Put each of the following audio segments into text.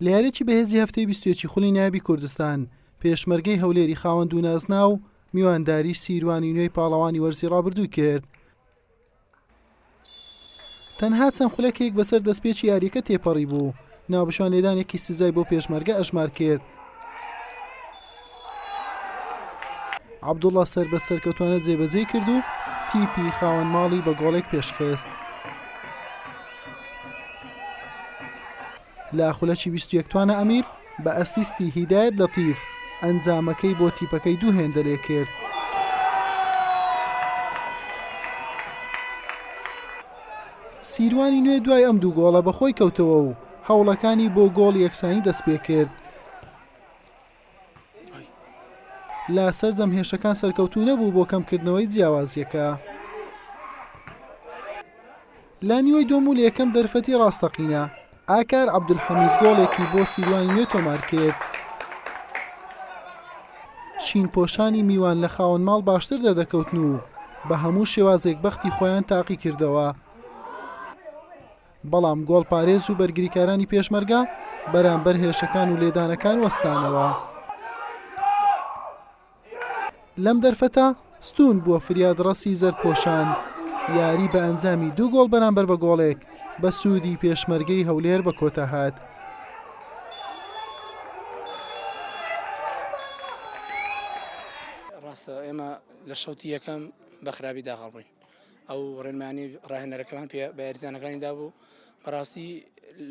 لە یاریی بەهێزی هەفتەی بیست و یەکی خولی نایابی کوردستان، پێشمەرگەی هەولێری خاوەن دوو نازناو، میوانداریی سیروانی نوێی پاڵەوانی وەرزی ڕابردوو کرد. تەنها چەند خولەکێک بەسەر دەستپێکی یارییەکە تێپەڕیبوو، ناوبژیوان لێدانێکی سزای بۆ پێشمەرگە ئەژمار کرد، عەبدوڵا سەر بە سەرکەوتوانە جێبەجێ کرد و تیپی خاوەن ماڵی بە گۆڵێک پێشخست. لە خولەکی 21 توانە ئەمیر بە ئەسیستی هیدایەت لە تیف ئەنجامەکەی بۆ تیپەکەی دوو هێندە لێ کرد. سیروانی نوێ دوای ئەم دوو گۆڵە بەخۆی کەوتەوە و هەوڵەکانی بۆ گۆڵ یەکسانی دەستپێکرد، لە سەرجەم هێرشەکان سەرکەوتوو نەبوو بۆ کەمکردنەوەی جیاوازییەکە. لە نیوەی دووەم و لە یەکەم دەرفەتی ڕاستەقینە، ئاکار عەبدولحەمید گۆڵێکی بۆ سیروانی نوێ تۆمارکرد. شینپۆشانی میوان لە خاوەن ماڵ باشتر دەردەکەوتن و بە هەموو شێوازێک بەختی خۆیان تاقیکردەوە. بەڵام گۆڵپارێز و بەرگریکارانی پێشمەرگە بەرامبەر هێرشەکان و لێدانەکان وەستانەوە. لەم دەرفەتە ستوون بووە فریادڕەسی زەردپۆشان، یاری بە ئەنجامی دوو گۆڵ بەرامبەر بە گۆڵێک بە سوودی پێشمەرگەی هەولێر بە کۆتا هات. ڕاستە ئێمە لە شەوتی یەکەم بە خراپی داخڵبووین. ئەو ڕێنمانی ڕاهێنەرەکەمان پێ بە یاریزانەکانی دابوو بەڕاستی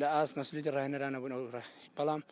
لە ئاست مەسولیتی ڕاهێنەرانە بوون ئەو ڕێ بەڵام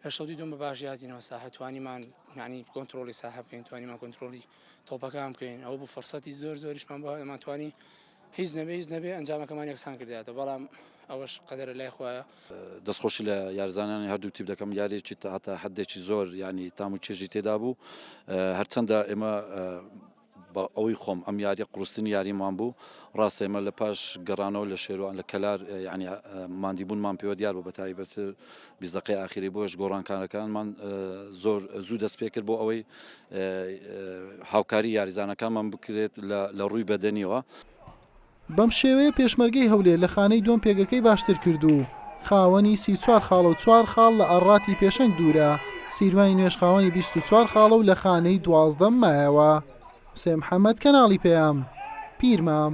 لە شەوتی دوم بە باش یادینەوە ساحە توانیمان معنی کۆنتترۆلی ساحە بکەین توانیمان کۆنتترۆلی تۆپەکان بکەین ئەو بوو فرسەتی زۆر زۆریشمان بۆ ئەمان توانی هیچ نەبێ هیچ نەبێ ئەنجامەکەمان یەکسان کرداتە بەڵام ئەوەش قەدەر لای خۆیان دەستخۆشی لە یارزانانی هەردوو تیپ دەکەم یارێکی هەتا حدێکی زۆر ینی تام و چێژی تێدا بوو هەرچەندە ئێمە بە ئەوەی خۆم ئەم یاریە قوڕسترین یاریمان بوو ڕاستە ئێمە لە پاش گەڕانەوە لە شێروان لە کەلار یعنی ماندیبوونمان پێوە دیار بوو بە تایبەت بیزەقەی ئاخیری بۆش گۆڕانکارەکانمان زۆر زوو دەست پێ کرد بۆ ئەوەی هاوکاری یاریزانەکانمان بکرێت لە ڕووی بەدەنیەوە. بەم شێوەیە پێشمەرگەی هەولێر لە خانەی دووەم پێگەکەی باشتر کرد و خاوەنی سی و چوار خاڵە و چوار خاڵ لە ئاڕاتی پێشەنگ دوورە، سیروانی نوێژ خاوەنی بیست و چوار خاڵە و لە خانەی دوازدەم مایەوە. حوسێن محەمەد، کەناڵی پەیام، پیرمام.